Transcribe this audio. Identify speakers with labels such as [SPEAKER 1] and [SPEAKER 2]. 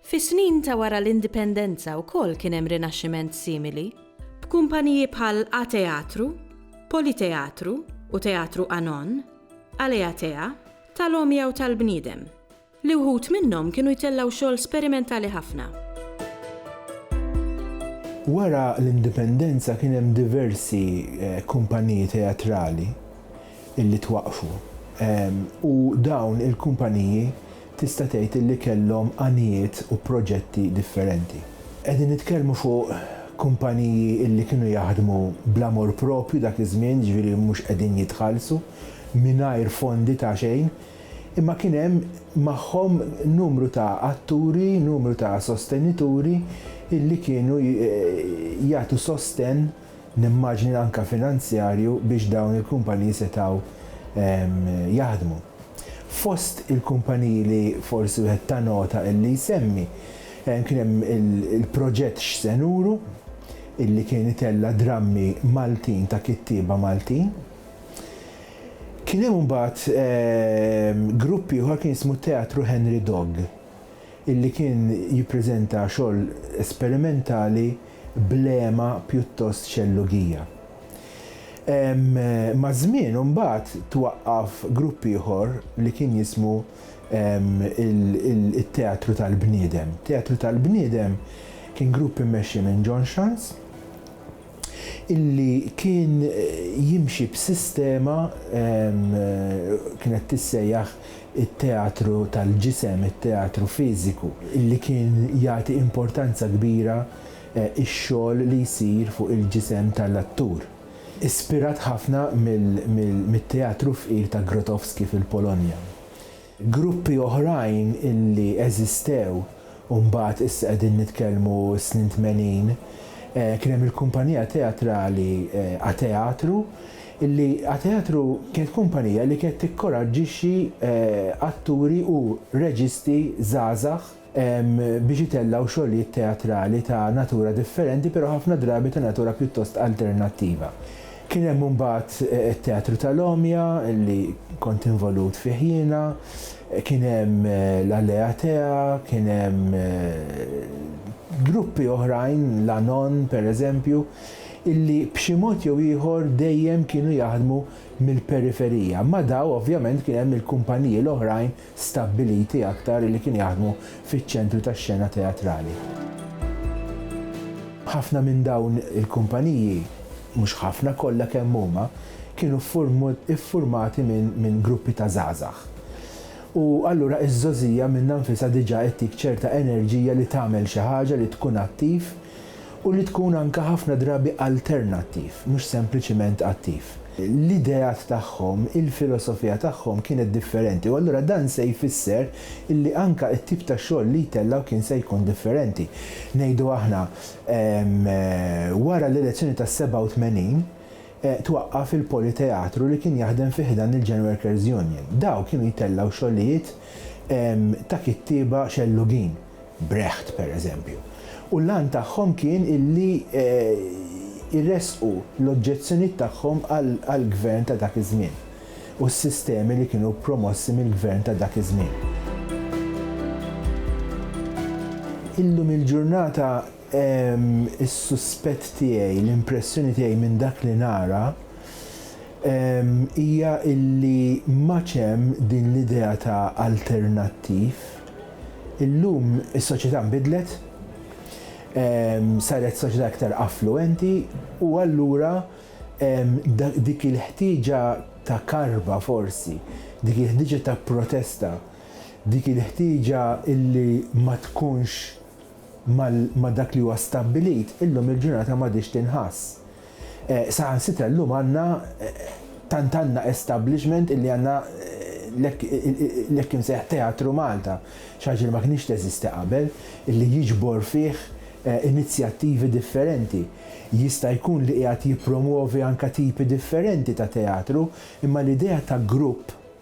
[SPEAKER 1] Fis-snin ta' wara l-Indipendenza wkoll kien hemm rinaxximent simili, b'kumpaniji bħal A-Teatru, Politeatru u Teatru Anon, Aleatea, tal-għomja u tal-bniedem, li wħud minnhom kienu jtellgħu xogħol sperimentali ħafna.
[SPEAKER 2] Wara l-Indipendenza kien hemm diversi kumpaniji teatrali li twaqqfu u dawn il-kumpaniji tista' tgħid illi kellhom għanijiet u proġetti differenti. Qegħdin nitkellmu fuq kumpaniji illi kienu jaħdmu bl-amor proprju dak iż-żmien, jiġifieri mhux qegħdin jitħallsu, mingħajr fondi ta' xejn, imma kien hemm magħhom numru ta' atturi, numru ta' sostenituri illi kienu jagħtu sostenn, nimmaġni anke finanzjarju biex dawn il-kumpaniji setgħu jaħdmu. Fost il-kumpaniji li forsi wieħed ta nota illi jsemmi, kien hemm il-proġett X'se Nuru? illi kien itella' drammi Maltin ta' kittieba Maltin. Kien hemm imbagħad grupp ieħor kien jismu Teatru Henry Dogg illi kien jippreżenta xogħol esperimentali b'lema pjuttost xellugija. Maż-żmien imbagħad twaqqaf grupp ieħor li kien jismu t-Teatru tal-Bniedem. Teatru tal-Bniedem kien grupp immexxi minn John Schanz illi kien jimxi b'sistema kienet tissejjaħ it-teatru tal-ġisem, it-teatru fiżiku, li kien jagħti importanza kbira ix-xogħol li jsir fuq il-ġisem tal-attur. Ispirat ħafna mit-teatru fqir ta' Grotowski fil-Polonja. Gruppi oħrajn li eżistew u mbagħad issa qegħdin nitkellmu s-snin tmenin, kien hemm il-kumpanija teatrali Ateatru, li Ateatru kienet kumpanija li kienet tikkoraġġixxi atturi u reġisti żgħażagħ biex itellgħu xogħlijiet teatrali ta' natura differenti però ħafna drabi ta' natura pjuttost alternattiva. Kien hemm imbagħad it-Teatru tal-Għomja li kont involut fih jiena, kien hemm l-Alea Tea, kien hemm gruppi oħrajn, l-Anon pereżempju, illi b'xi mod jew ieħor dejjem kienu jaħdmu mill-periferija. Ma' daw ovvjament kien hemm il-kumpaniji l-oħrajn stabbiliti aktar li kienu jaħdmu fiċ-ċentru tax-xena teatrali. Ħafna minn dawn il-kumpaniji, mhux ħafna, kollha kemm huma, kienu ffurmati minn gruppi ta' żgħażagħ. U allura iż-żgħożija minnha nfisha diġà ttik ċerta enerġija li tagħmel xi ħaġa, li tkun attiv u li tkun anke ħafna drabi alternattiv, mhux sempliċiment attiv. L-ideat tagħhom, il-filosofija tagħhom kienet differenti u allura dan se jfisser li anke t-tip ta' xogħol li jtellgħu kien se jkun differenti. Ngħidu aħna, wara l-elezzjoni tas-87, twaqqaf il-Politeatru li kien jaħdem fi ħdan il-Gen Workers Union. Dawk kienu jtellgħu xogħlijiet ta' kittieba xellugin, Brecht pereżempju, u l-għan tagħhom kien illi jressqu l-oġġezzjonijiet tagħhom għall-gvern ta' dak iż-żmien u s-sistemi li kienu promossi mill-gvern ta' dak iż-żmien. Illum il-ġurnata Is-suspett tiegħi, l-impressjoni tiegħi minn dak li nara, hija illi m'għadx hemm din l-idea ta' alternattiv. Illum is-soċjetà nbidlet, saret soċjetà iktar affluwenti u allura dik il-ħtieġa ta' karba forsi, dik il-ħtieġa ta' protesta, dik il-ħtieġa illi ma tkunx, ma' dak li huwa stabbilit, illum il-ġurnata m'għadhiex tinħass. Saħansitra llum għandna, tant għandna establishment illi għandna l-hekk imsejjaħ Teatru Malta, xi ħaġa li ma kinitx teżisti qabel, illi jiġbor fih inizjattivi differenti. Jista' jkun li qiegħed jippromwovi anke tipi differenti ta' teatru, imma l-idea ta' grupp,